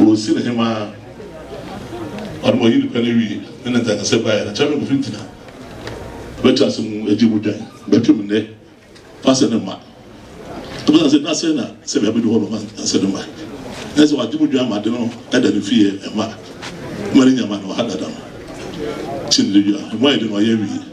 Wosin hemaa ɔno ma ɔyi ne pɛ no wie ne ne nkankasɛm baeɛ no, Kyɛrɛm fi ntina bɛtwe ase mu agye mu dwan bɛtwe mu nnɛ fa sɛ ne mma ɛbɛsan sɛ na sɛ na sɛ bia bɛdu hɔ no ma sɛ ne mma ɛne sɛ wagye mu dwan ma ade no ɛda ne fie ɛma ma ne nyama no ɔha dada no kyɛ ne dwa ɛmu ayɛ de no ɔyɛ wie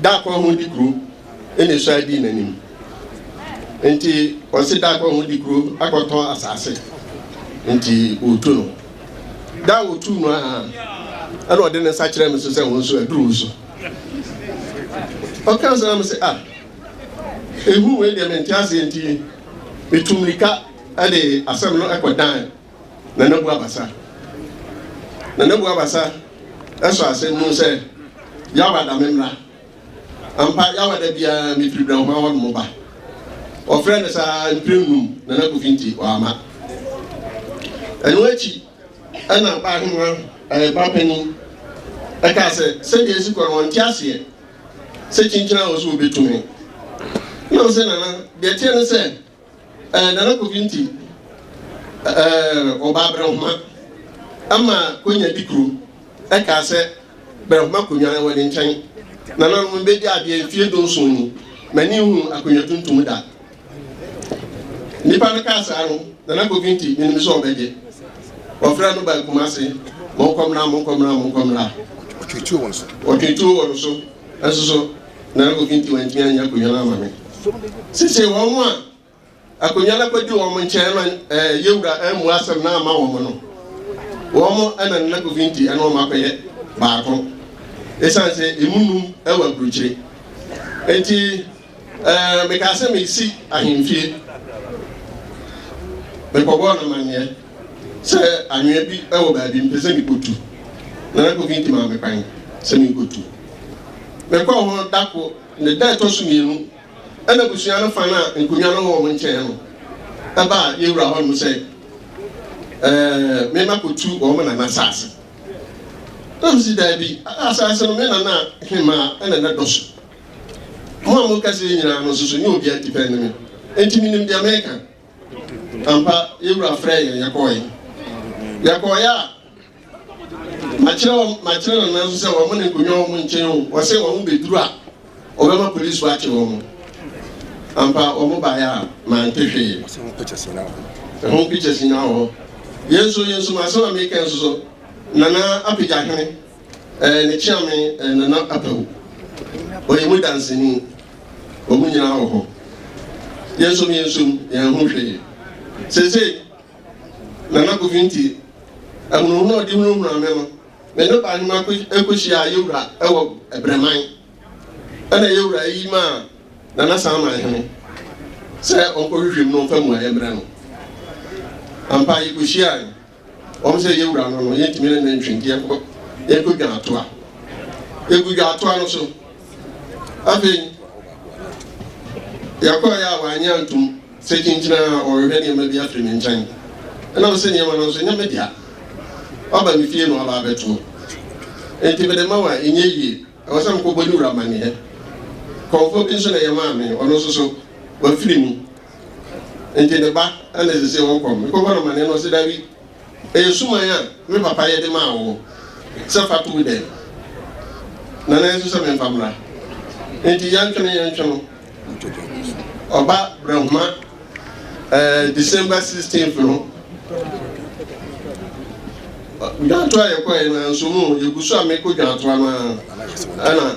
Da koro ho di kuro na esua dii n'anim. Nti ɔsi da koro ho di kuro akɔtɔn asaase. Nti otu no. Da a otu no aha ɛna ɔde ne nsa kyerɛ me so sɛ wɔn nso aduru so. Ɔka nso na me sɛ ah ehu wei deɛ mente aseɛ nti metu mirika ɛde asɛm no ɛkɔ dan Nana Bu Abasa Nana Bu Abasa sɔ asɛm mu sɛ, Yawa da me mmra. Ampa, Yawa da biara me firi Brɛnhwa hɔ nom ba. Wɔfrɛɛ no saa mprɛ nnum, Nana Kofi nti wamma. Ɛno akyi ɛna Aba Ahema ɛɛ ba panin ɛkaa sɛ sɛdeɛ esi kɔ no wɔn nte aseɛ sɛ kyinkyini a wɔso wɔbɛtu me. Nam sɛ nana deɛ teɛ ne sɛ Eh, Nana Kofi nti eh, ɔbaa Brɛhoma ama konya di kuro ɛkaa sɛ Brɛhoma konwa ɛwɔ ne nkyɛn. Nananom mbɛdi adeɛ mfie dunson ni, m'ani nhu akonwa tuntum da. Nipa no kaa saa no, Nana Kofi nti menim sɛ ɔbɛgye. Ɔfrɛ no baa Kumase, monkɔmmra, monkɔmmra, monkɔmmra. Ɔtwetuo wɔ no so. Ɔtwetuo wɔ no so, ɛnso so. na obi nti wantumi anyɛ akonnwa no ama me sesei wɔn a akonnwa no akɔdi wɔn nkyɛn ma ɛɛ yɛwura amu asɛm na ama wɔn no wɔn ɛna nna kofi nti ɛna wɔn akɔyɛ baako ɛsan sɛ emu num ɛwɔ aburukyire eti ɛɛ mekaa sɛ mesi ahemfie mekɔbɔɔ no amanneɛ Sɛ anwea bi wɔ baabi, mepɛ sɛ mikotu, na na Kofi nti ma me kwan sɛ minkotu. Mekɔɔ hɔ da koro, ne da a ɛtɔ so mmienu, ɛna abusua no fa no a nkonnwa no wɔ wɔn nkyɛn no ɛbaa yɛn wura hɔnom sɛ ɛɛ mema kotu wɔn nana asase. Na mesi daabi, asase no me nana hemaa ɛna na dɔ so. Mo a moka sɛ nyinaa no nso so nyɛ obiara tipɛ ne me, enti menim deɛ meka. Ampa, yɛn Wura frɛɛ yɛn, yɛkɔɔɛ. Yɛkɔɔɛ a, makyerɛ wɔn, makyerɛ Nana nso sɛ wɔn ne nkonnwa wɔn nkyɛn o, wɔsɛ wɔn bɛduru a, wɔbɛma polisifo akye wɔn. Ampa, wɔn baeɛ a, mante hwee. Ɛho pictures nyinaa wɔ hɔ. Ɛho pictures nyinaa wɔ hɔ. Yɛn nso, yɛn nso, m'asɛm a meka nso so, Nana apagya hene. Ɛɛ ne kyeame ɛɛ Nana Apawu. Ɔyɛ mu danseni. Wɔn nyinaa wɔ hɔ. Yɛnsom yɛnsom, yɛanhu hwee. Seesei, Nana Kofi nti, ahunahuna a ɔde hunahunaa me no, me ne Ɔbahema kɔ kɔhyiaa Yewura wɔ Brɛman. Ɛna Yewura yi maa Nana Saman Hene sɛ ɔnkɔhwehwɛ mu na ɔmfa mmuaeɛ mmrɛ no. Ampa, yɛkɔhyiae. Wɔn sɛ yɛn wura no no, yɛntumi ne no ntwe nti yɛnkɔ yɛnkɔ dwan atoa. Yɛgu dwan atoa no so. Afei yɛkɔɔ yɛ a wanyɛ antom sɛ kyinkyina a ɔrehwɛ nneɛma bi afiri ne nkyɛn. Ɛnam sɛ nneɛma no nso nyɛ me dea. Waba me fie na waba abɛtoɔ. Enti mede ma wo a ɛnyɛ yie. Ɛwɔ sɛ mekɔbɔ ne wura amanneɛ. Kɔmfoɔ bi nso na yɛmaa me, ɔno nso so wafiri mu. Enti ne ba na ɛsɛ sɛ wɔkɔ hɔ. Mekɔbɔ no amanneɛ no, ɔse, Dabi, ɛyɛ suman a me papa yɛ de maa wo sɛ fa to wo dan mu, na na ɛsɛ sɛ memfa mmra. Enti yɛntwene yɛntwene no, ɔba Brahma eh, December 16th no, dwantoa a yɛkɔɛ no anso mu, yɛgu so a mekɔ dwantoa no a, ɛna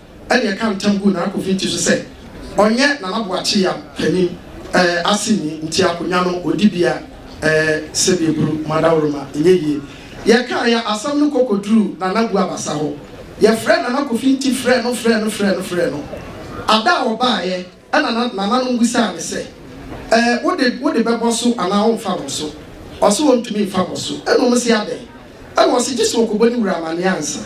ɛnna ɛka ntam guu Nana Kofi ti so sɛ ɔnyɛ Nana Boakye Yam panin eh, aseni nti akonnwa no ɔdi bia eh, sɛdeɛ buru mu adaworoma ɛnyɛ yie. Yɛkaeɛ asɛm no kɔkɔduruu Nana Bu Abasa hɔ. Yɛfrɛɛ Nana Kofi Nti frɛɛ no frɛɛ no frɛɛ no frɛɛ no. Ada a ɔbaeɛ. Ɛnna na nananom bisaa no sɛ, Ɛɛ, wo de, wode bɛbɔ so anaa woremfa bɔ so? Ɔse ontumi mfa bɔ so. Ɛnna wɔse, Adɛn? Ɛnna ɔse, Gye sɛ ɔkɔbɔ ne wura amanneɛ ansa.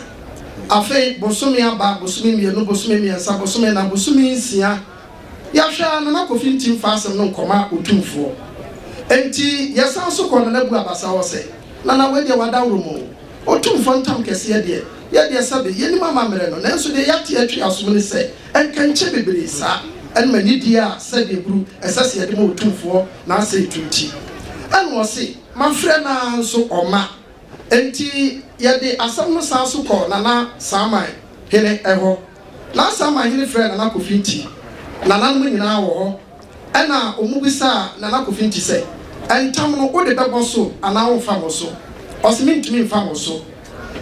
Afei bosome aba, bosome mmienu, bosome mmiɛnsa, bosome nnan, bosome nsia, yɛahwɛ ara Nana Kofi nte mfa asɛm no nkɔma Otumfoɔ. Enti yɛsan so kɔɔ Nana Bu Abasa hɔ sɛ, Nana, wei deɛ wadaworo mu o. Otumfoɔ ntam kɛseɛ deɛ, yɛ deɛ sɛbe, yɛnnim amammerɛ no, nanso deɛ yɛate atwi asom ne sɛ, Nkɛnkyɛ bebree saa ne ma nidie a sɛdeɛ buru ɛsɛ se yɛde ma Otumfoɔ n'asɛe to nti. Ɛna ɔse, Mafrɛ no ara nso ɔmma. Enti yɛde asɛm no san so kɔɔ Nana Saaman hene hɔ. Nana Saaman hene frɛɛ Nana Kofinti. Nananom nyinaa wɔ hɔ. Ɛna wɔbisaa Nana Kofinti sɛ, Ntam no wode bɛbɔ so anaa womfa mmɔ so? Ɔse, Mentumi mfa mmɔ so.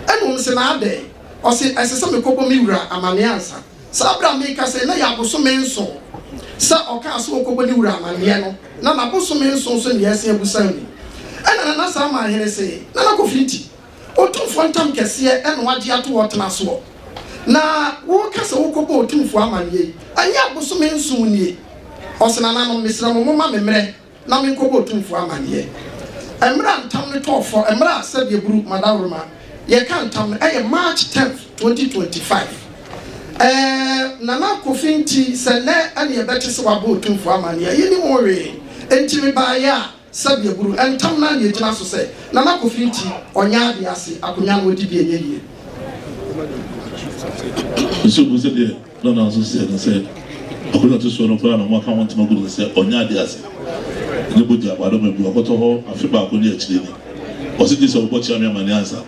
Ɛna wɔse, Na adɛn? Ɔse, Ɛsɛ sɛ mekɔbɔ me wura amanneɛ ansa. Saa bere a merekasa yi, na ɛyɛ abosome nson sɛ ɔkaa sɛ ɔrekɔbɔ ne wura amanneɛ no, na n'abosome nson nso ne Yɛase Abusaw ni. Ɛnna Nana Saama Ahene se, Nana Kofi Nti, Otumfoɔ ntam kɛseɛ na wagye ato hɔ tena soɔ, na woreka sɛ worekɔbɔ Otumfoɔ amanneɛ yi, ɛnyɛ abosome nson nie? Ɔse, Nananom, mesrɛ mo, momma me mmerɛ. na menkɔbɔ otumfoɔ amanneɛ. Mmerɛ a ntam no tɔɔ fɔ, mmerɛ a sɛdeɛ buru madaworoma yɛka ntam no ɛyɛ March tenth, twenty twenty five. Ɛɛ Nana Kofi nti sɛ nnɛ ɛne ɛbɛte sɛ wabɔ otumfoɔ amanneɛ, yɛnnim ho hwee. Enti mebaeɛ a sɛdeɛ buru ntam no ara na ɛgyina so sɛ Nana Kofi nti ɔnyɛ adeɛ ase, akonnwa no ɔdi bi ɛnyɛ yie. Ɛna na nso sɛ ne sɛ ɔbɛ na ɛto soɔ no koraa na wɔn aka ho ntoma gu no no sɛ ɔnyɛ adeɛ ase ne bogya ma adɔma bi ɔkɔtɔ hɔ afe baako ne akyire ni ɔse gye sɛ ɔbɔ kyea me amaneɛ ansa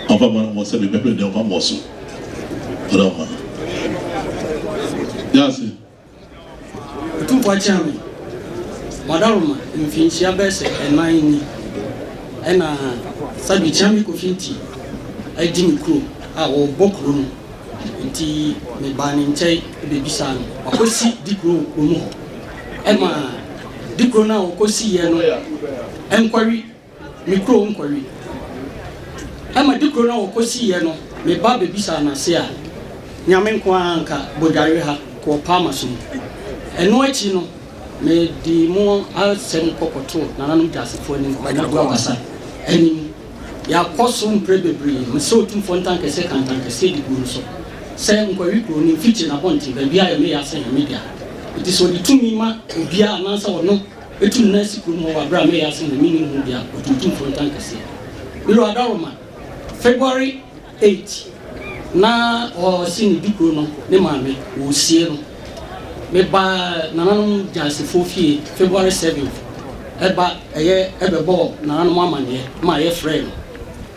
ɔmfa ma no mo sɛ me bɛ bere deɛ ɔmfa mmɔ so ɔdɔ ma yɛ ase. Otumfo Akyame Badaruma mfinhyia bɛyɛ sɛ ɛnan ni ɛna Sadu Kyame Kofi Nti adi me kurom a ɔbɔ kuro no nti me baa ne nkyɛn bɛbisaa no wakɔ si dikuro wɔ kurom hɔ ɛma dikuro no a ɔkɔ siiɛ no ɛnkɔwe me kurom nkɔwe. Ɛma de kuro no a wɔkɔsiiɛ no, me ba bɛbisaa no ase a, Nyame nko ara nka bɔdware ha wɔ Palma so mu. Ɛno akyi no, mede mo asɛm kɔ kɔtoo Nananom Gyasefoɔ anim, Kwanabu Abasa anim. Yɛakɔ so mprɛ bebree. Mesɛ Otumfoɔ ntankɛseɛ ka ntankɛseɛ de gu no so sɛ Nkɔwe kuro no mfikyi, n'abɔnten, baabiara yɛ me ya sɛ yɛ me dea. Enti sɛ ɔde tumi ma obiara anaasɛ ɔno, Etum na esi kurom hɔ wɔ aber a meyɛ asen na minnyi hom bi a otuutu mfontan kɛse. Miro Adaroma, February eight, na ɔse ne di kor no ne maame wosie no. Mebaa nananom Gyaasefoɔ fie February seventh ba yɛ bɛbɔɔ nananom amanneɛ ma yɛ frɛɛ no.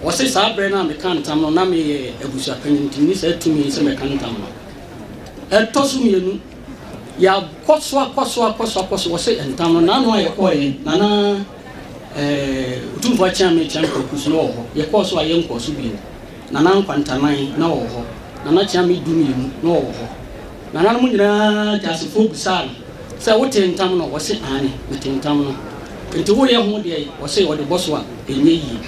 Ɔse saa berɛ no a mekaa ntam no na meyɛ abusuapanyin nti menni saa tumi sɛ mɛka ntam no. Ɛtɔ so mmienu. Yɛakɔ so akɔ so akɔ so akɔ so, wɔse ntam no n'ano a yɛkɔeɛ na na Otumfoɔ Akyeame Kyeame Kwaku so na ɔwɔ hɔ, yɛkɔɔ so a yɛnkɔɔ so bio, Nana Nkwantanan na ɔwɔ hɔ, Nana Kyeame du mmienu na ɔwɔ hɔ. Nananom nyinaa Gyasefoɔ bisaa no sɛ wotee ntam no? Ɔse aane metee ntam no. Nti woyɛ ho deɛn? Ɔse ɔde bɔ so a ɛnyɛ yie.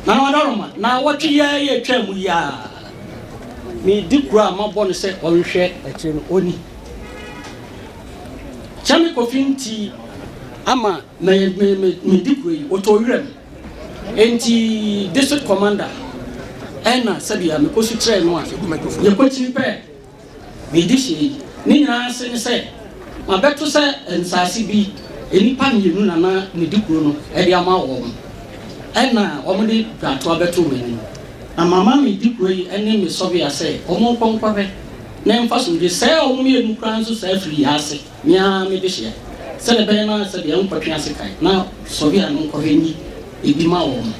Nana Adaroma, Naawɔtwe yi ara yɛ ɛtwaa mu yi ara. Me di kura a mabɔ no sɛ ɔnhwɛ akyire no ɔnni. Sɛ me kofi nti ama me me me me di kura yi ɔtɔ wira mu. Enti district commander ɛna sɛbi a me kɔ su kyerɛ no a yɛ kɔ kyini pɛ. Medi hia yi. Ne nyinaa ase ne sɛ mabɛto sɛ nsase bi nnipa mmienu na na medi kuro no de ama wɔn. Ɛna wɔde dwatoa bɛtoo m'anim. Na mama me di kuro yi ne me sɔbea sɛ wɔnkɔ nkɔhwɛ na ɛmfa sumdie. Sɛɛ wɔn mmienu koraa nso saa firi yɛ ase. Me ara me dehyeɛ. Sɛdeɛ ɛbɛyɛ na sɛ deɛ nkɔtwe ase kan na sɔhwɛ a no nkɔhwɛ nyi ebi ma wɔn.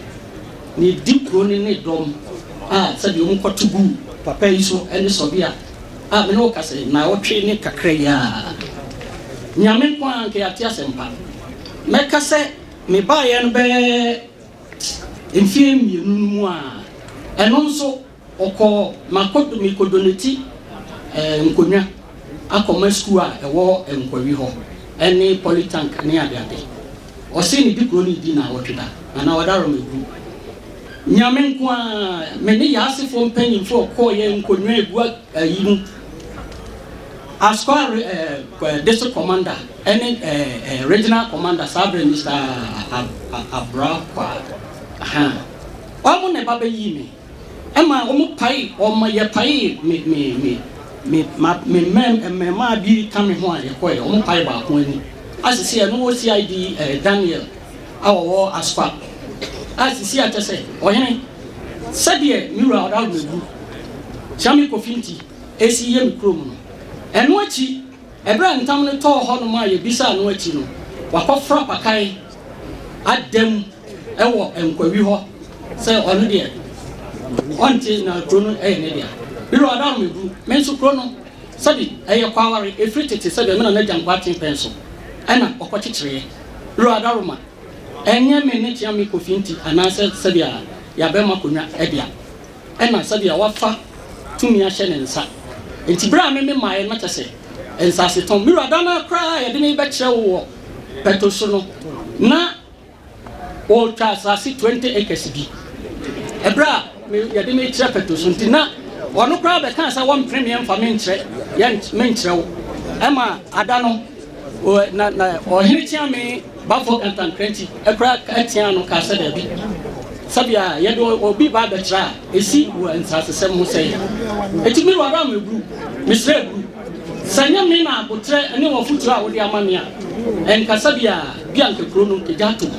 Na edi kuro no ne dɔm a sɛdeɛ wɔn kɔto gu papa yi so ne sɔhwɛ a a me ne wo ka sɛ naawɔtwe ne kakra yi ara. Nyame nko ara nka yɛate asɛm pa. Mɛka sɛ me baeɛ no bɛyɛ mfeɛ mmienu no mu a ɛno nso. Ɔkɔɔ Makodo Mikodoneti eh, Nkonwa akɔma sukuu a ɛwɔ Nkwawi hɔ ne Polytank ne adeade. Ɔse ne di kuro no di naawɔtwe da na na ɔda Rɔmɛgu. Nyame nko ara, me ne Yaasefoɔ mpanyimfoɔ kɔɔyɛ Nkonwa egu ayi mu as kɔa eh, District Commander ne eh, eh, Regional Commander saa berɛ Mister Abrakwa. Ahaa. Ɔmo na ɛba bɛyii me. Ɛma wɔpae wɔn, yɛpaee me, me, me, me, ma, me mmɛm, mmɛmmaa bi ka me ho a yɛkɔeɛ. Wɔpae baako ani. A sisi a ɛno wɔ CID eh, Daniel a ɔwɔ Aspa. A sisi a kyɛ sɛ, ɔhene, sɛdeɛ me wura ɔdaworo mɛwu, Kyame Kofi nti, ɛsi yɛ me kurom no. Ɛno akyi, Bere a ntam no tɔɔ hɔnom a yebisaa no akyi no, wakɔfra pakan ada mu wɔ nkwawi hɔ sɛ ɔno deɛ ɔnte na kuro no yɛ ne dea. Bere a ɔda hɔ no, mebu me nso kuro no sɛde ɛyɛ kɔ aware ɛfiri tete sɛdeɛ me na n'agya nkɔ aten pɛn so na ɔkɔkyekyereɛ. Bere a ɔda hɔ ma ɛnyɛ me ne Teamekofi nti anaasɛ sɛdeɛ yɛabɛm akonnwa dea. ɛna sɛdeɛ wafa tumi ahyɛ ne nsa. Enti berɛ a me memaeɛ no, na kyerɛ sɛ, nsasetɔn. Me wura, da no ara koraa a yɛde me rebɛkyerɛ wo wɔ pɛto so no, na wɔretwa asase twenty acres bi. Ɛberɛ a me, yɛde me rekyerɛ pɛto so nti, na ɔno koraa bɛkaa sɛ wɔmpene me mfa me nkyerɛ, yɛn, me nkyerɛ wo. Ɛmaa, ada no, ɔ, na, na ɔhene kyeame. Bamfoɔ Kantankrankyi kora ka teaa ano kaa sɛ daabi, sɛbea a yɛde obi ba abɛtra a esi wɔ nsasesɛm ho sɛe. Enti me wura me buru, mesrɛ buru. Sɛ ɛnyɛ me na aboterɛ ne w'afotuo a wode ama me a, ɛnka sɛbea a bi a anka kuro no gya ato mu.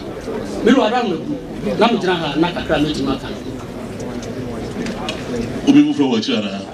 Me wura me buru na megyina ha na kakra a mɛtumi aka no. Obi mu fɛ wɔ akyiri anaa?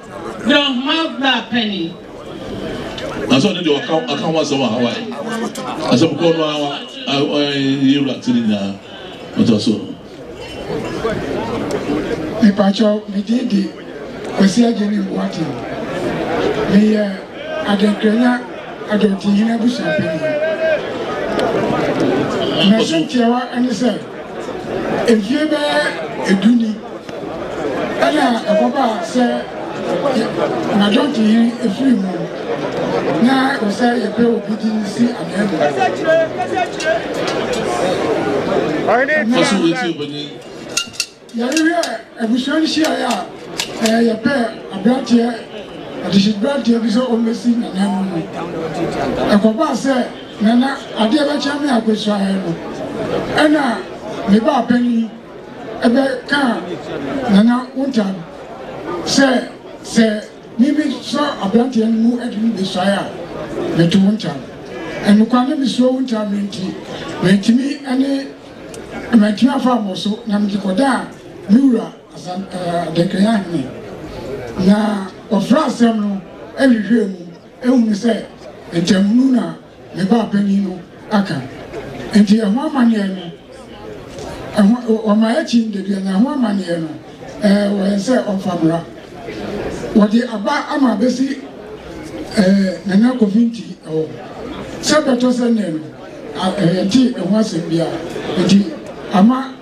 Dɛ nhoma bra pɛ ni. Nanso ɔno deɛ ɔka ɔka ho asɛm wɔ Hawaii. Asɛm kɔɔ no ara ɔyɛ ewura ti ne nyinaa ɔtɔ so. Mepakyɛw, me din de Kwasi Agyeni Boateng. Meyɛ Adenkranya Adɔntinhene abusua panyin. M'asɛm tiawa ne sɛ, mfie bɛyɛ du ni, Ɛna ɛkɔba sɛ anadwɔnto yi efiri mu na ɛwɔ sɛ yɛpɛ obi din si anwea mu. Faso wei ti ebɛnyi. Yɛrehwɛ abusua nhyiaeɛ a ɛɛ yɛpɛ aberanteɛ adehyedberanteɛ bi sɛ ɔmmɛsi nana mu mu. Ɛkɔbaa sɛ nana adeɛ bɛkyɛ me akɔsuaeɛ no ɛna me baa panin Ɛbɛ kaa Nana Wontan sɛ, Sɛ me me sɔ abranteɛ no mu de no besuae a, me to Wontan. Ɛnokwa ne me suro Wontan me nti, mantumi ne mantumi afa abɔ so na me de kɔ daa me wura Asan eh, Adenkran Ahene. Na ɔfra asɛm no ɛhwehwɛɛ mu, ɛhunu sɛ ntamunu na Me ba panin no aka. Nti ɛho amanneɛ no, ɛho, wɔma akyin da biara, na ɛho amanneɛ no, ɛɛ, wɔ yɛn sɛ ɔmfa mmra. Wɔde aba ama abɛsi ɛɛ, Nana Kofi Nti hɔ. Sɛ bɛtɔ sɛ nnɛ no, a, yɛntee ɛho asɛm biara. Nti ama.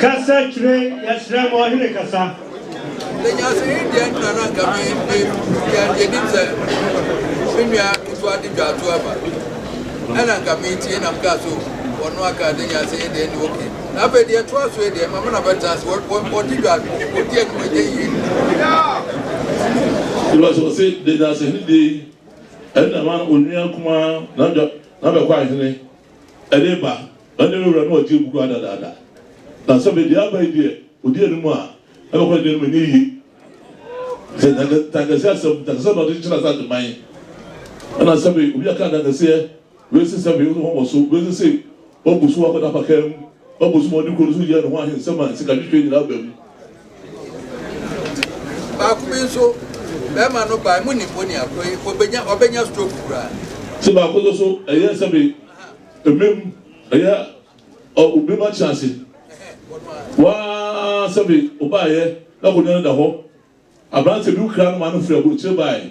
Kasa kyerɛ yɛsrɛ ma ɔhene kasa. Sɛ nyansani deɛ nna na nka me me nua deɛ nim sɛ me nua nso ade dwa ato aba ɛna nka me tie nam kaa so wɔno aka de nyansani deɛ ne oke na afei deɛ ɛtoa so deɛ ma me na bɛtena ase wɔde dwa wɔdi anim ɛnyɛ yie Iba sɛ ɔse de nyansani deɛ yi ɛna ma onua kumaa na dwa na bɛkɔ ahene ɛde ba Ɛnde me wura no ɔgye agu koraa dadaada. Na sɛ mede aba yi deɛ, ɔdi anim a, ɛbɛkɔ ne deɛ anim ɛnyɛ yie. Sɛ ntanka, ntankaseɛ asɛm, ntankaseɛ na ɔde kyekyere asase man. Ɛna sɛbe obi aka ntankaseɛ, wei se sɛbe, ɔde ho mmɔ so, wei se sei, wabu so akɔda apakaa mu, wabu so ma ɔde kuro no so yɛ ne ho ahe nsɛm a sikadwetweɛ nyinaa ba mu. Baako bi nso, barima no bae, monim onii akoro yi, ɔbɛnya, ɔbɛnya stroke koraa. Se baako nso so, ɛyɛ sɛbe Mmem, ɛyɛ ɔ obi ma kyerɛ ase. Waa sɛbe obaeɛ na akonnwa no da hɔ. Aberanteɛ bi wokra no maa no firi aburokyire baeɛ.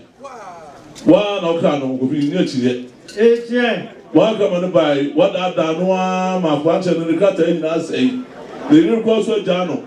Waa na wokra no, Kofi, nni akyinnyeɛ. Waa wokra ma no baeɛ, woadaadaa no ara ma akwankyerɛ no ne krataa nyinaa sɛe. Ne yere kura so agyaa no.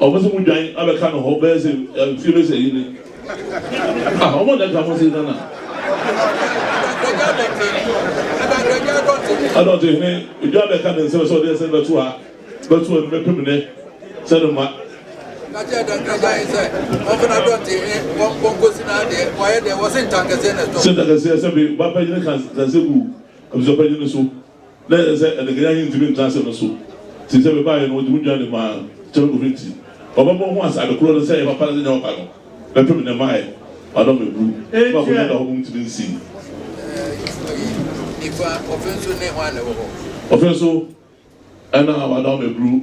Ɔmo se mo dwan abɛka no hɔ bɛyɛ se mfie bɛ sɛ yi ni ah ɔmo na ɛka mo se nana adɔte hene edwa bɛka ne nsɛm sɛ ɔde ɛsɛ bɛto ha bɛto ɛno bɛpem ne sɛ no ma sɛ ntakɛseɛ sɛ be ba pɛgyene kansɛ gu abusua pɛgyene so Na ɛyɛ sɛ Anikanyan yi ntumi ntra ase no so. Te sɛ me baeɛ no, wɔde me dwan de maa Kyɛrɛkofo nti, ɔbɛbɔ ho ase ade koro no sɛ ɛyɛ papa ne sɛ ɛnyɛ papa no, bɛpem nnɛ mmaeɛ, madɔ me buru, na m'akonnwa da hɔ mmom ntumi nsi. Ɔfe nso, ɛna wadɔ me buru.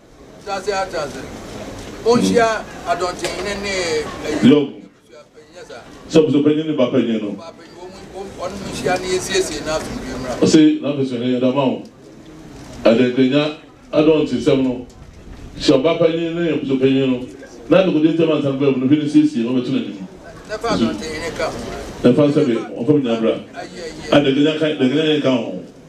Yob, sɛ ɔpɛ sɛ ɔpanyin ne ba panyin no, ɔse n'afeso he yɛde ama wo. Ɛde nkranya adɔntesɛm no hyɛ ɔba panyin ne ɔpɛ sɛ ɔpanyin no na dekode ntam ansa no bɛba mu no he ne siesie na ɔbɛto n'anim. Nso, na fa sɛ be wɔmfa me nyina bra. A Dekanya ka, dekanya he nka ho.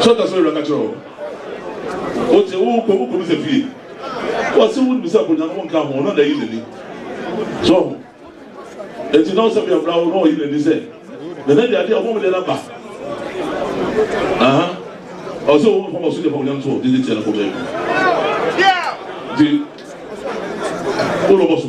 Sɔta sɔre bɛka kyerɛ wo. Wote wo kɔ wo kɔmisa fie. Wɔse wo nim sɛ akonnwa no wonka ho ɔno na ayi n'ani. So ho. Eti na ɔsɛ bia bra wo na ɔyi n'ani sɛ nana di adeɛ ɔmo ɔmo deɛ na ba. Aha. Ɔsɛ wo nfa ɔso deɛ fa onyam so didi tia na kɔ baabi. Di. Wo lɔbɔ so.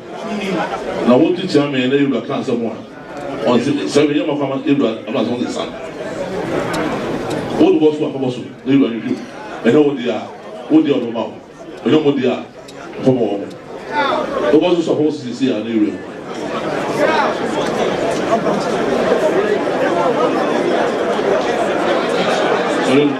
Na wo nso kyia me na yewura ka asɛm a ɔnse sɛ me yɛ ma fama yewura ama sɛ ɔnse san wo bɔ so a fama so na yewura no bio ɛnyɛ wo deɛ a wo deɛ ɔbɛma wo ɛnyɛ mo deɛ a fama wɔ mo wo bɔ so so a fama so sisi a na yewura mu. Thank you.